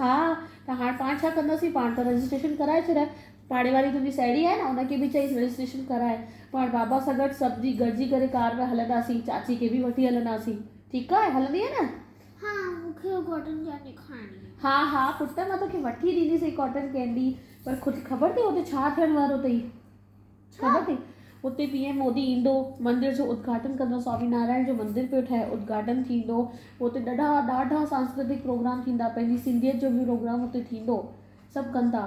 ها ته هاڻ پاڻ ڇا ڪنداسين پاڻ ته رجسٽريشن ڪرائي ڇڏ پاڙي واري تنهنجي سهيڙي آهي نه ان کي به چئيس رجسٽريشن ڪرائي پاڻ بابا سان گڏ سڀ جي گڏجي ڪري ڪار ۾ هلنداسين چاچي کي به وٺي هلنداسين ٺيڪ آهي هلندينء نه. ها مون کي اها ڪاٽن ڪينڊي کائڻي آهي. ها ها پٽ مان توکي وٺي ڏينديسين ڪاٽن ڪينڊي پر خود خبر اٿئي هتي ڇا ٿيڻ وارو اٿئي. خبر تئي اتي پي ايم مودي ايندو مندر جو ادگهاٽن ڪندو سوامي نارائڻ جو مندر پيو ٺهي ادگهاٽن ٿيندو اتي ڏاڍا ڏاڍا سانسڪرتڪ پروگرام ٿيندا پنهنجي سنڌيت جو به پروگرام اتي ٿيندو سڀ ڪن ٿا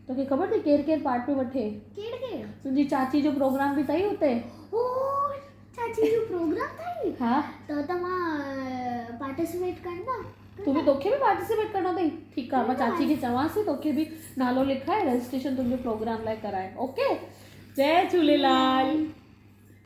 توکي خبر تئي ڪير ڪير پارٽ پيو وٺي ڪير ڪير تنهنجي چاچي جو پروگرام به تئي اتي چاچي جو پروگرام ٿئي ها ته توهان پارٽيسپيٽ ڪندا تو به توکي به پارٽيسپيٽ ڪرڻو اٿئي ٺيڪ آ مان چاچي کي چوانس ٿي توکي به نالو لکائي رجسٽريشن تنهنجو پروگرام لاء ڪرائي اوڪي جي جهوليلال